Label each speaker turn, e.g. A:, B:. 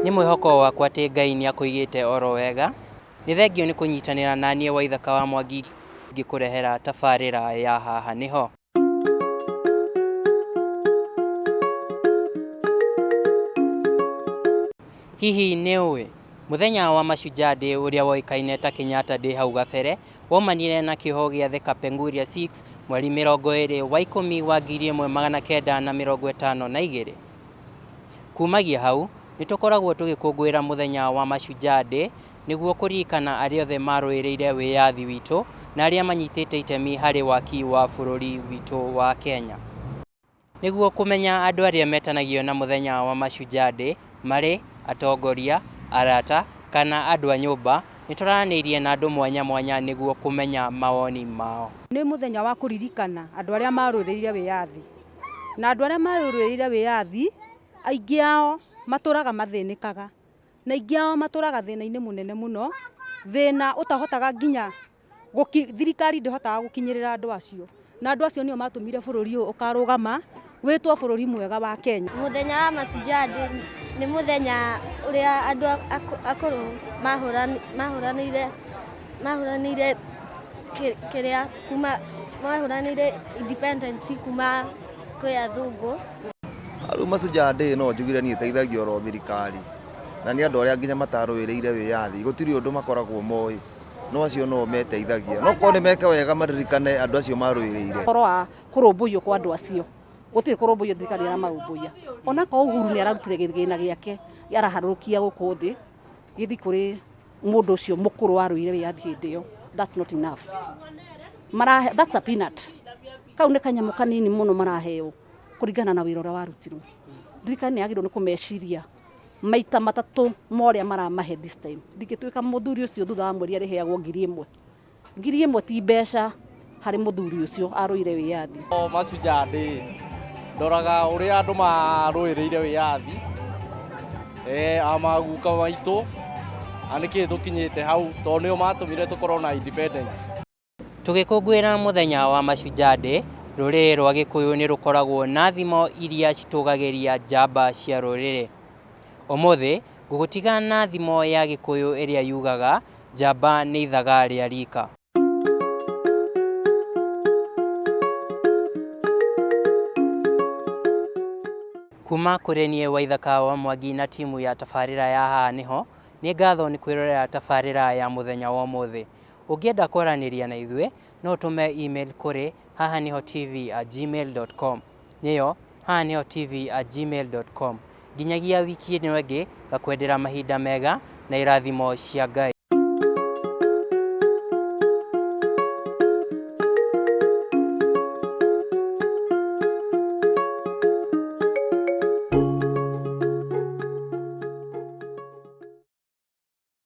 A: Nĩ mwĩhoko wakwa atĩ Ngai nĩ akũigĩte oro wega. Nĩ thengio nĩ kũnyitanĩra na niĩ Waithaka wa Mwangi ngĩkũrehera tabarĩra ya Haha nĩ ho. Hihi nĩ ũĩ? Mũthenya wa Mashujaa Day ũrĩa woĩkaine ta Kenyatta Day hau gabere, Waumanire na kĩoho gĩa The Kapenguria Six mweri mĩrongo ĩrĩ wa ikũmi wa ngiri ĩmwe magana kenda na mĩrongo ĩtano na igĩrĩ. Kumagia hau, nĩ tũkoragwo tũgĩkũngũĩra mũthenya wa Mashujaa Day nĩguo kũririkana arĩa othe marũĩrĩire wĩyathi witũ na arĩa manyitĩte itemi harĩ waki wa bũrũri witũ wa Kenya. Nĩguo kũmenya andũ arĩa metanagio na mũthenya wa Mashujaa Day marĩ atongoria, arata, kana andũ a nyũmba, nĩ twaranĩirie na andũ mwanya mwanya nĩguo kũmenya mawoni mao. Nĩ mũthenya wa kũririkana andũ arĩa marũĩrĩire wĩyathi. Na andũ arĩa marũĩrĩire wĩyathi, aingĩ ao matũraga mathĩnĩkaga. Na aingĩ ao matũraga thĩna-inĩ mũnene mũno, thĩna ũtahotaga nginya... Gũki- thirikari ndĩhotaga gũkinyĩrĩra andũ acio na andũ acio nĩo matũmire bũrũri ũyũ ũkarũgama wĩtwo bũrũri mwega wa kenya Mũthenya wa Mashujaa Day nĩ mũthenya ũrĩa andũ akũ- akũrũ mahũran- mahũranĩire mahũranĩire kĩ- kĩrĩa kuma mahũranĩire independence kuma kwĩ athũngũ. Rĩu Mashujaa Day no njugire niĩ ĩteithagia oro thirikari na nĩ andũ arĩa nginya matarũĩrĩire wĩyathi gũtirĩ ũndũ makoragwo moĩ no acio no meteithagia no korwo nĩ meke wega maririkane andũ acio marũĩrĩire horo wa kũrũmbũiyo kwa andũ acio gũtirĩ kũrũmbũiyo thirikari ĩramarũmbũiya ona ko uhuru nĩ ararutire gĩthĩna gĩake araharũrũkia gũkũ thĩ gĩthi kũrĩ mũndũ ũcio mũkũrũ warũire wĩyathi hĩndĩ ĩyo that's not enough marahe that's a peanut kau nĩ kanyamũ kanini mũno maraheo kũringana na wĩra ũrĩa warutirwo thirikari nĩ yagĩrĩirwo nĩ kũmeciria maita matatũ ma ũrĩa maramahe this time ndingĩtuĩka mũthuri ũcio thutha wa mweri arĩheagwo ngiri ĩmwe ngiri ĩmwe ti mbeca harĩ mũthuri ũcio arũire wĩyathi O mashujaa ndĩ ndoraga ũrĩa andũ marũĩrĩire wĩyathi eh, amaguka maitũ na nĩkĩ tũkinyĩte hau tondũ nĩo matũmire tũkorwo na independence Tũgĩkũngũĩra mũthenya wa Mashujaa Day, rũrĩrĩ rwa Gĩkũyũ nĩ rũkoragwo na thimo iria citũgagĩria njamba cia rũrĩrĩ. Ũmũthĩ, ngũgũtiga na thimo ya Gĩkũyũ ĩrĩa yugaga, njamba nĩ ithaga rĩa rika. Kuma kũrĩ niĩ Waithaka wa Mwangi na timu ya tabarĩra ya Haha Nĩho, nĩ ngatho nĩ kwĩrorera tabarĩra ya mũthenya wa ũmũthĩ. Ũngĩenda kwaranĩria na ithuĩ, no ũtũme e-mail kũrĩ haha nĩho TV at gmail dot com. Nĩyo, haha nĩho TV at gmail dot com. Nginyagia wiki ĩno ĩngĩ, ngakwendera mahinda mega na irathimo cia Ngai.